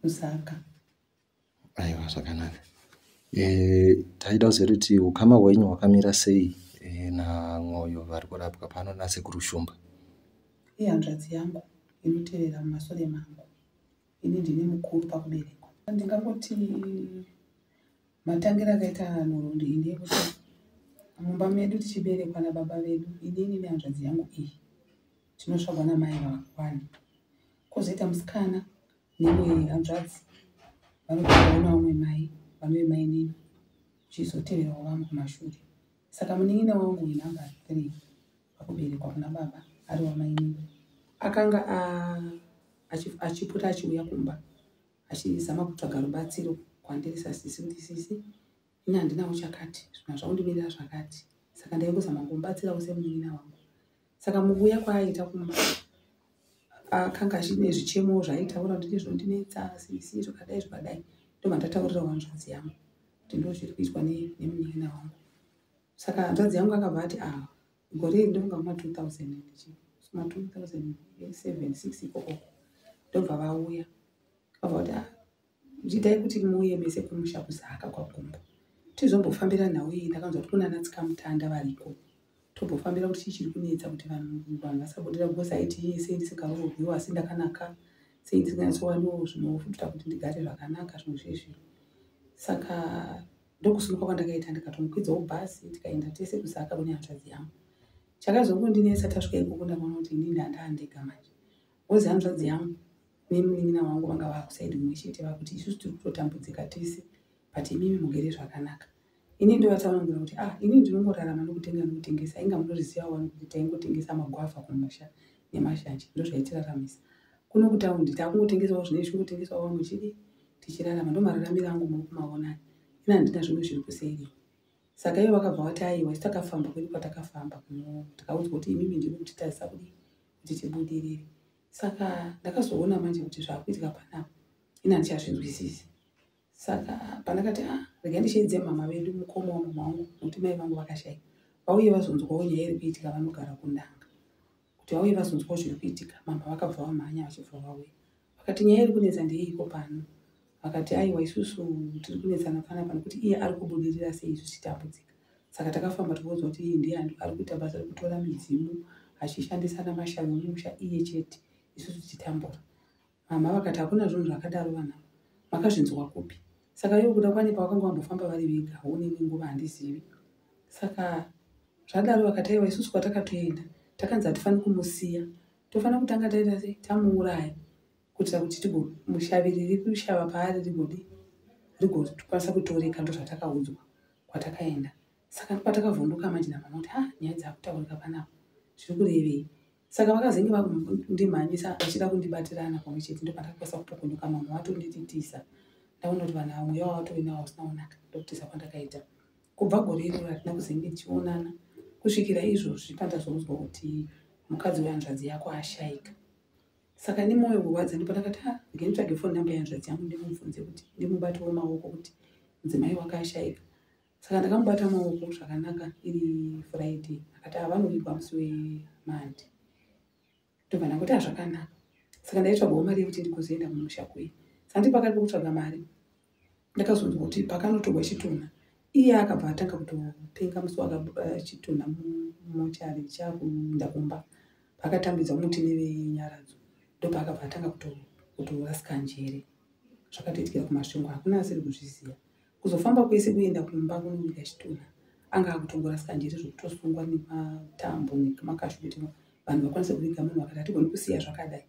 kusaka aiwa zvakanaka e, taida kuziva kuti ukama hwenyu hwakamira sei e, namwoyo vari kurapwa pano nasekuru shumba ihanzvadzi yangu inotevera mumasore mangu ini ndine mukuru pakuberekwa ndingangoti matangira akaita nhoroondo ini ekuti mumba medu tichiberekwa nababa vedu inini nehanzvadzi yangu iyi tinotsvagwa namai vakwani kozoita musikana nemwe hanzvadzi vanotoona vamwe mai vanove mainini chizoteverawo vamwe kumashure saka munin'ina wangu wenumber three vakuberekwa kuna baba ari wamainini akanga achipota achiuya kumba achizama kutsvaga rubatsiro kwandiri sasisi kuti sisi Ini handina uchakati zvina zvaundimirira zvakati saka ndaingozama kumubatsirawo semunin'ina wangu saka mukuuya kwaaita kumba akanga achine zvichemo zvaitaura kuti ndizvo ndinetsa sisi zvakadai zvakadai ndomandataurira wanzvadzi yangu kuti ndo zviri kuitwa nemunin'ina wangu saka hanzvadzi yangu akabva ati a ah, gore iri ndonga kuma 2000 ma 2007 6 ikokoko ndobva vauya vabva kuti ah, Nditai kuti muuye mese kumusha kuZaka kwaGumbo tizombofambira nhau iyi. Ndakanzwa kuti kuna anaTsikamutanda variko tombofambira kuti chii chiri kunetsa kuti vanhu vanhu vasabudira because aiti iye sei ndisikaroorwiwo asi ndakanaka sei ndisinganyatsowaniwo zvinofuta kuti ndigare zvakanaka zvinhu zvezvino. Saka ndokusimuka kwandakaita ndikatomukwidzawo bhasi tikaenda tese kuZaka kune hanzvadzi yangu. Chakazongondinetsa tasvika ikoko ndakaona kuti ini ndandaa ndega manje. Wozi hanzvadzi yangu nemunin'ina wangu vanga vakusaidi mumwe chete vakuti isusu tiri kutotambudzika tese but imimi mugere zvakanaka ini ndovatsanangura kuti ah ini ndinongorarama nokutenga nokutengesa inga munoriziva wani kuti taingotengesa magwavha kumusha nemashanje ndozvaitiraramisa kuno kutaundi takungotengesawo zvine zvichingotengesawo vamwe chidi tichirarama ndomararamira angu muri kumavonani ini handina zvimwe zviri kuseiriwa saka ivo vakabva vati aiwa isu takafamba kwedu kwatakafamba kuno tikaudzwa kuti imimi ndiri kutitazisa kudii kuti tibudirire saka ndakazoona manje kuti zvakuitika panapa ini handichazvinzwisisi saka pandakati a ah, rega ndichiedze mama vedu mukoma wamama wangu nokuti mai vangu vakashaika vauye vazonzwawo nyaya iri kuitika vanogara kundanga kuti vauye vazonzwawo zviri kuitika mama vakabva vamhanya vachibva vauya vakati nyaya iri kunetsa ndeyeiko pano Vakati, Aiwa, isusu tiri kunetsana panapa nokuti iye ari kubudirira sei isu tichitambudzika. Saka takafamba tikaudzwa kuti iye ndiye ari kuita basa rekutora midzimu achishandisa ana mashavi omusha iye chete isusu tichitambura. Mama vakati, Hakuna zvinhu zvakadaro vanhama, makazvinzwa kupi? Saka iwe kuda kwanepa vakanga vambofamba vari vega haone imwe nguva handizivi. Saka zvadaro vakati, Aiwa, isusu kwatakatoenda takanzi hatifaniri kumusiya, tofanira kutanga taita sei? Tamuuraya. kuitira kuti tigomushaviri rikushava paari rigodi rigokwanisa kutoreka ndo zvatakaudzwa kwatakaenda saka patakavhunduka manje namama kuti ha ah, nyaya dzakutaurika panapa zviri kurevei saka vakazenge vakundimhanyisa vachida kundibatirana pamwe chete ndo pandakakwanisa kupokonyoka mama vatondititisa ndaona kuti vanhu vamwe yavo vatoinawo usina kunaka ndokutisa kwandakaita kubva gore iroro hatina kuzenge tichionana kusvikira izvozvi pandazoudzwa kuti mukadzi wehanzvadzi yako ashaika saka nemoyo kurwadza ndipo ndakati ha ah, ndingaitsvage foni namba yanzvadzi yangu ndimubvunze kuti ndimubate wemaoko kuti mudzimai wakashaika saka ndakamubata maoko zvakanaka iri friday akati avanoigwa ah, musi wemandi ndobva ndakuti hazvakanaka ah, saka ndaitsvagawo mari yekuti ndikozoenda mumusha kuye saka ndipakati pokutsvaga mari ndakazonzwa kuti pakanotorwa chitunha iye akabva atanga kutopenga musi wakabuda eh, chitunha mumochari chakuinda kumba paakatambidza muti nevenyaradzo ndopaakabva atanga kutorasika njere zvakatoitikira kumasvingo hakuna asiri kuzviziva kuzofamba kwese kuenda kumba kunonyika chitunha anga akutongorasika njere zvekutosungwa nematambo nekumakashu kuti vanhu vakwanise kuviga munhu vakati hatigoni kusiya zvakadai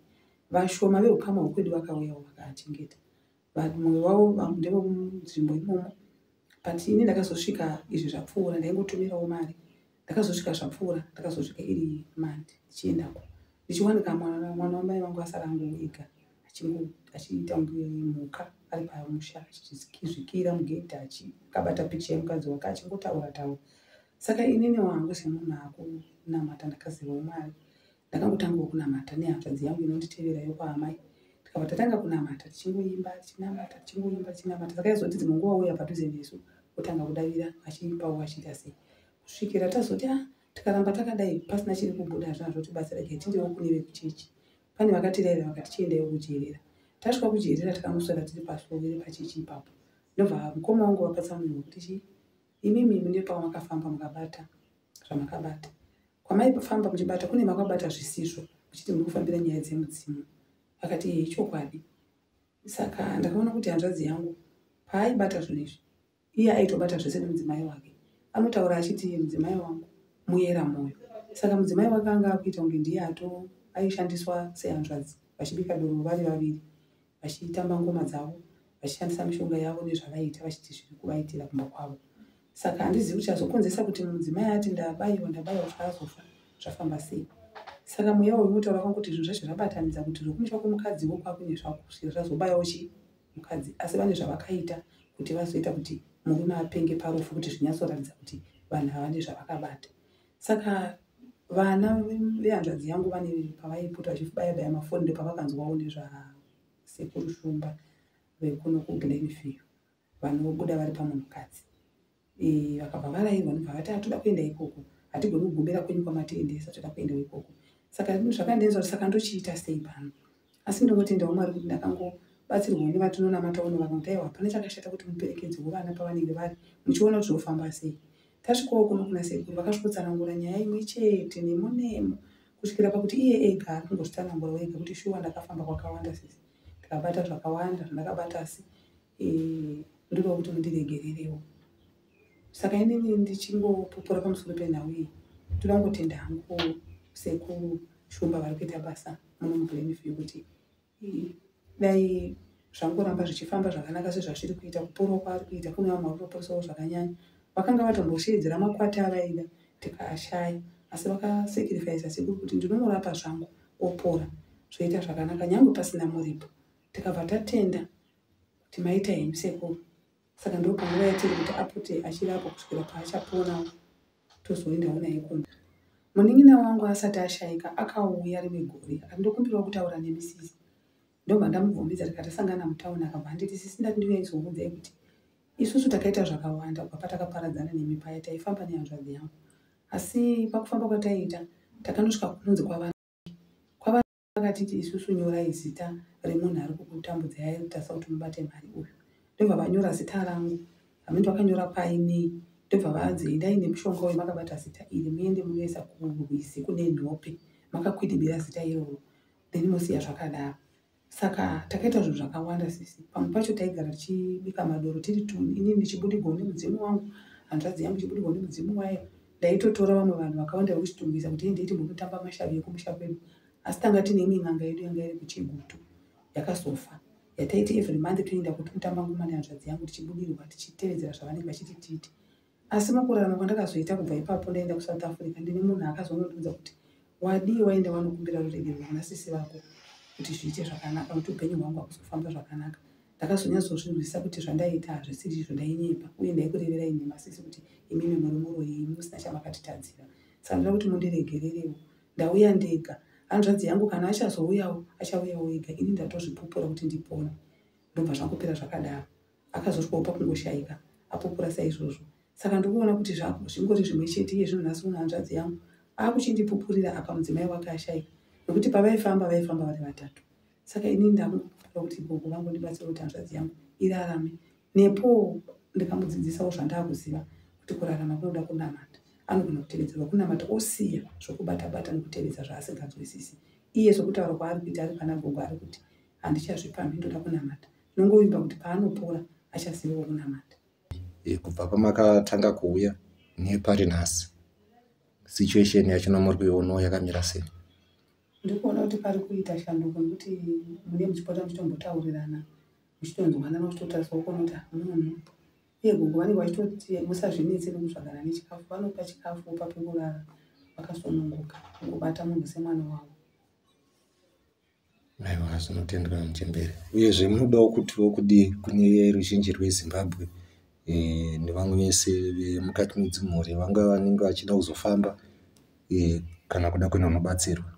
vashoma veukama hwekwedu vakauyawo vakachengeta but mumwe wavo vamwe ndevemunzvimbo imomo but ini ndakazosvika izvi zvapfuura ndaingotumirawo mari ndakazosvika zvapfuura ndakazosvika iri mandi ndichiendako ndichiwanika mwana mwana wamai vangu asara angu ega achiita kunge mhuka ari pamusha achizvikira mugedhi achikabata picha yemukadzi wake achingotaura taura saka inini wangu semunhu akunamata ndakazivawo mari Ndakangotangawo kunamata nehanzvadzi yangu inonditevera yokwaamai tikabva tatanga kunamata tichingoimba tichinamata tichingoimba tichinamata saka yaizoti dzimwe nguva uya padhuze nesu otanga kudavira achiipawo achiita sei kusvikira tazoti a ah, tikaramba takadai pasina chiri kubuda hazvina zvotibatsira gai tindewo kune vekuchechi pane vakatiraira vakati chiendayo kujeerera tasvika kujeerera takanoswera tiri pasuo iri pachechi ipapo ndobva mukoma wangu vapatsa munhu wekuti chii imimi mune pamakafamba mukabata zvamakabata kwamaifamba muchibata kune makabata zvisizvo muchiti muri kufambira nyaya dzemudzimu akati iye ichokwadi saka ndakaona kuti hanzvadzi yangu paaibata zvinhu izvi iye aitobata zvese nemudzimai wake anotaura achiti mudzimai wangu muyera mwoyo saka mudzimai wake anga akuita kunge ndiye ato aishandiswa sehanzvadzi vachibika doro vari vaviri vachitamba ngoma dzavo vachishandisa mishonga yavo nezvavaiita vachiti zviri kuvaitira kumba kwavo saka handizivi kuti chazokonzesa kuti mudzimai ati ndabaiwa ndabaiwa kuti azofa zvafamba sei saka mweya uyu unotaura kwanga kuti zvinhu zvacho zvabatanidza kuti zvekumusha kwemukadzi wo kwakunye zvakusvika zvazobayawo chi mukadzi asi vane zvavakaita kuti vazoita kuti murume apenge parufu kuti zvinyatsoratidza kuti vanhu havane zvavakabata saka vana vehanzvadzi yangu vane pavaipota vachibaya baya mafoni ndopavakanzwawo nezvasekuru shumba vekuno kuglenview vanobuda vari pamunhukadzi e, vakabva varairwa nobva vati atoda kuenda ikoko hatigoni kugumbira kwenyu kwamatiendesa toda kuendawo ikoko saka zvakandenzwa saka ndochiita sei pano asi ndinotenda wamwari kuti ndakangobatsirwa une vatinonamata uno vanoti aiwa hapana chakashata kuti muperekedzi wevana pavanenge vari muchiona kuti zvofamba sei tasvikawo kuno kuna sekuru vakasvikotsanangura nyaya imwe chete nemo nemo kusvikira pakuti iye ega ari kungozvitsanangura wega kuti shuwa ndakafamba kwakawanda sisi ndikabata zvakawanda zvandakabata asi eh, ndinoda kuti mundiregererewo saka inini ndichingopupura pamusoro penhau iyi ndoda kungotenda hangu ko sekuru shumba vari kuita basa munomublemifiyu kuti dai zvangoramba zvichifamba zvakanaka sezvazviri kuita kuporwa kwaari kuita kune vamwe vari kutoporesawo zvakanyanya vakanga vatombosheedzera makwati avaida tikaashaya asi vakasekirifaisa sekuru kuti ndinomurapa zvangu opora zvoita zvakanaka nyange pasina muripo tikabva tatenda kuti maita hemsekuru saka ndopanguva yatiri kuti apote achirapwa kusvikira paachapona tozoendawo naye kona munin'ina wangu asati ashaika akauya rimwe gore akati ndokumbirawo kutaura nemi sisi ndobva ndamubvumidza tikatasangana mutauni akabva anditi sisi ndati ndiuya izokuudzai kuti isusu takaita zvakawanda kubva patakaparadzana nemi paya taifamba nehanzvadzi yangu asi pakufamba kwataiita takanosvika kunonzi kwava kwava vakatiti isusu nyorai zita remunhu ari kukutambudzai airutasa kuti mubate mari uyu ndobva vanyora zita rangu hamindi vakanyora painei ndobva vanzi endai nemushonga uyu makabata zita iri muende munoisa kurwizi kune nhope makakwidibira zita iroro then mosiya zvakadaro saka takaita zvinhu zvakawanda sisi pamwe pacho taigara tichibika madoro tiri tuni inini ndichibudigwa nemudzimu wangu hanzvadzi yangu chibudigwa nemudzimu wayo ndaitotora vamwe vanhu vakawanda vekuchitungwiza kuti endei timbonotamba mashavi ekumusha kwedu asi tanga tine imwe n'anga yedu yanga iri kuchigutu yakazofa yataiti every month toenda kuti kutamba ngoma nehanzvadzi yangu tichibudirwa tichitevedzera zvavanenge vachiti tiite asi mukurarama kwandakazoita kubva ipapo ndaenda kusouth africa ndine munhu akazonondiudza kuti wadii waenda wanokumbira ruregerero kuna sisi vako kuti zviite zvakanaka kuti upenyu hwangu hakuzofamba zvakanaka ndakazonyatsozvirwisa kuti zvandaita hazvisiri izvo ndainyepa uye ndaikurevera ini masisi kuti imimi muri muroyi imi musina chamakatitadzira saka ndoda kuti mundiregererewo ndauya ndega hanzvadzi yangu kana achazouyawo achauyawo ega ini ndatozvipupura kuti ndipona ndobva zvangopera zvakadaro akazotwawo pakungoshaika apupura saizvozvo saka ndikuona kuti zvako zvingori zvimwe chete iye zvinhu nhasi unohanzvadzi yangu akuchindipupurira apa mudzimai wake ashaika nokuti pavaifamba vaifamba vari vatatu saka ini ndamuda kuti gogo vangu ndibatsire kuti hanzvadzi yangu irarame nepo ndikamudzidzisawo zvandaakuziva kuti kurarama kunoda kunamata anogona kutevedzerwa kunamata osiya zvokubata bata nekutevedza zvaasinganzwisisi iye zvokutaura kwaari kuita ari pana gogo ari kuti handichazvipamhi ndoda kunamata nongovimba kuti paanopora achazivawo kunamata e, kubva pamakatanga kuuya nepari nhasi situation yacho nomuri kuionawo yakamira sei ndiri kuona kuti pari kuita shanduko nekuti mune muchipota muchitombotaurirana muchitonzwanana muchitotariswa kuona kuti munhu iye gogo vanenge vachitoti musazvinetse nekutsvagana nechikafu vanopa chikafu opa pekurara vakasununguka ngobata munhu semwana wavo aiwa zvinotendwa muchembere uyezve munodawo kutiwo kudi kune ruzhinji rwezimbabwe eh, nevamwe vese vemukati medzimhuri vanga vanenge vachida kuzofamba e, kana kuda kuenda unobatsirwa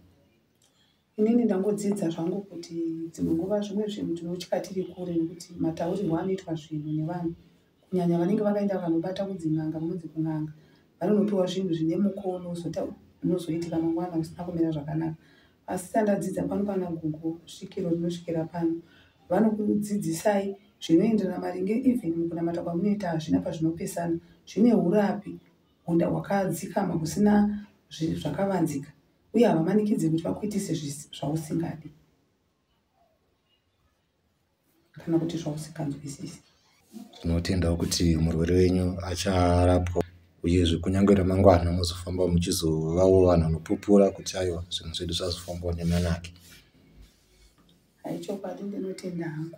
inini ndangodzidza zvangu kuti dzimwe nguva zvimwe zvinhu tinotya tiri kure nekuti mataurirwo anoitwa zvinhu nevanhu kunyanya vanenge vakaenda vanobata kudzin'anga munonzi kun'anga vanonopiwa zvinhu zvine mukono unozoitika mangwana usina kumira zvakanaka asi sandadzidza pano pana gugu svikiro rinosvikira pano vanokudzidzisai zvinoenderana maringe even mukunamata kwamunoita hazvina pazvinopesana zvine urapi Munda wakadzikama kusina zvinhu zvakavanzika uye havamanikidze kuti vakuitise zvausingadi kana kuti zvausinganzwisisi. Tinotendawo kuti murwere wenyu acharapwa uyezve kunyange ramangwana mozofamba muchizovawo vanhu vanopupura kuti aiwa zvinhu zvedu zvazofambawo nemanake haichokwadi ndinotenda hangu